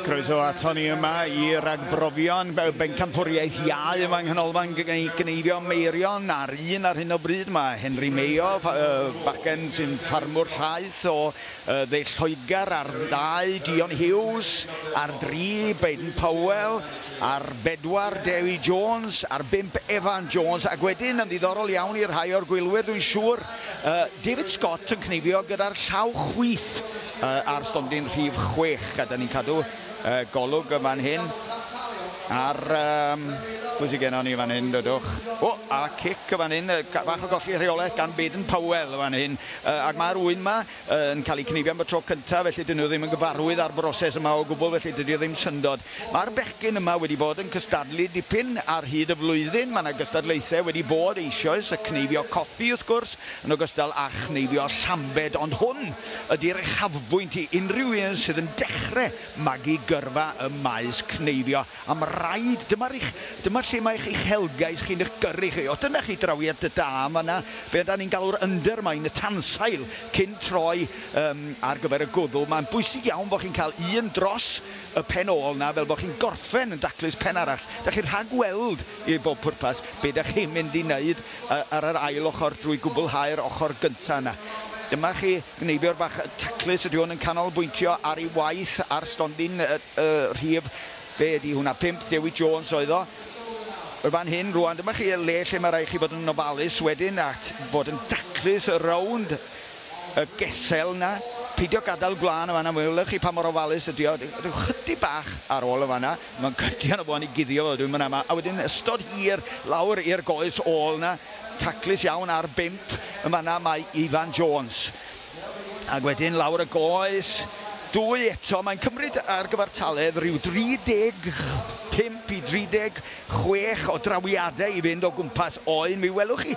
Croeso a Tony yma i ragbrofion bencampwriaeth iau yma yng Nghanolfan Gneifio Meirion ar un ar hyn o bryd mae Henry Mayo, uh, bagen sy'n ffarmwr llaeth o uh, ddeill Lloegr ar ddau, Dion Hughes ar dri, Baden Powell Ar bedwar, Dewi Jones, ar bump, Evan Jones, ac wedyn, yn ddiddorol iawn i rhai o'r gwylwyr dwi'n siŵr, David Scott yn cneifio gyda'r llaw chwith ar stondin rhif chwech. Gadel i ni cadw golwg yn fan hyn ar, pwy sydd gennon ni fan hyn, dodwch. O, a cic yn fan hyn, bach o golli rheolaeth gan Baden Powell yn fan hyn, ac mae'r ŵyn 'ma, yn cael eu cneifio am y tro cyntaf, felly dydyn nhw ddim yn gyfarwydd â'r broses yma o gwbl, felly dydy o ddim syndod. Mae'r bechgyn yma wedi bod yn cystadlu dipyn ar hyd y flwyddyn, mae 'na gystadlaethau wedi bod eisioes, y cneifio coffi wrth gwrs, yn ogystal â chneifio llambed, ond hwn ydy'r uchafbwynt i unrhyw un sydd yn dechrau magu gyrfa ym maes cneifio. Am raid, dyma'r eich, dyma lle mae eich uchelgais chi'n eich gyrru chi. O, dyna chi drawiad da yn fan'na, be ydan ni'n galw'r undermine, y tansail, cyn troi um, ar gyfer y gwddw. Mae'n bwysig iawn bod chi'n cael un dros y pen ôl na, fel bod chi'n gorffen yn daclus pen arall. Da chi'n rhagweld, i bob pwrpas, be da chi'n mynd i wneud ar yr ail ochr drwy gwblhau'r ochr gyntaf yna. Dyma chi gneibiwr bach taclus, ydy hwn yn canolbwyntio ar ei waith ar stondin y rhif, be ydi hwnna, pump, Dewi Jones oedd o, yn fan hyn rwan, dyma chi y le lle mae rhaid chi fod yn ofalus wedyn a fod yn daclus rownd y gesel yna, peidio gadael gwlân yn fan'na, welwch chi pa mor ofalus ydi o, rhyw chydig bach ar ôl yn fan'na, mae'n cydio yna fo ni guddio fo wedyn fan'na, a wedyn ystod hir lawr i'r goes ôl yna, taclus iawn ar bump yn fan'na mae Ifan Jones. Ac wedyn lawr y goes, dwy eto. Mae'n cymryd ar gyfartaledd rhyw 35 i 36 o drawiadau i fynd o gwmpas Oen. Mi welwch chi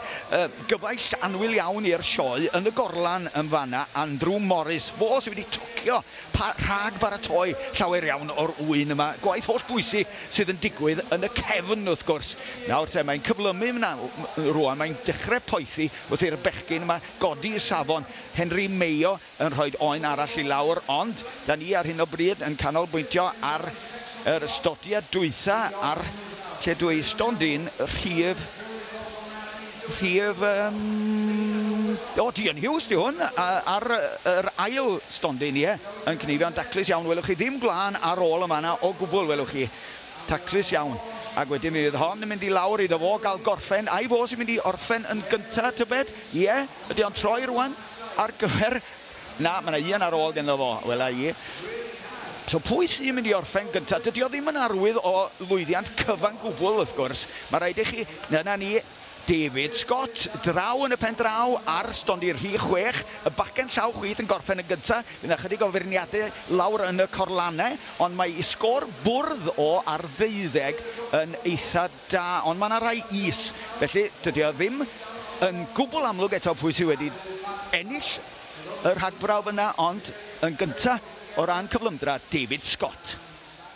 gyfaill annwyl iawn i'r sioe yn y gorlan yn fan'na, Andrew Morris. Fo sydd wedi tocio rhag baratoi llawer iawn o'r ŵyn yma. Gwaith holl bwysig sydd yn digwydd yn y cefn, wrth gwrs. Nawr te, mae'n cyflymu rwan, mae'n dechrau poethi wrth i'r bechgyn yma godi safon Henry Mayo yn rhoi oen arall i lawr ond da ni ar hyn o bryd yn canolbwyntio ar yr ystodiad dwytha ar lle dwi i stondin rhif rhif um, o ti yn hiws di hwn ar yr ail stondin ie yn cnifio'n daclus iawn welwch chi ddim gwlân ar ôl y manna o gwbl welwch chi Taclus iawn. Ac wedyn mi fydd hon yn mynd i lawr iddo fo gael gorffen. Ai fo sy'n mynd i orffen yn gynta, tybed? Ie? Ydy o'n troi rwan ar gyfer... Na, mae 'na un ar ôl ganddo fo, wela i. So pwy sy'n mynd i orffen gynta? Dydy o ddim yn arwydd o lwyddiant cyfan gwbl, wrth gwrs. Mae rhaid i chi... Dyna ni. David Scott, draw yn y pen draw ar stondin rhif chwech, y bachgen llaw chwith yn gorffen yn gyntaf, bydd 'na ychydig o feirniadu lawr yn y corlanau, ond mae i sgôr bwrdd o ar ddeuddeg yn eitha da, ond mae 'na rai is, felly dydy o ddim yn gwbl amlwg eto pwy sydd wedi ennill y rhagbrawf yna, ond yn gyntaf o ran cyflymdra, David Scott.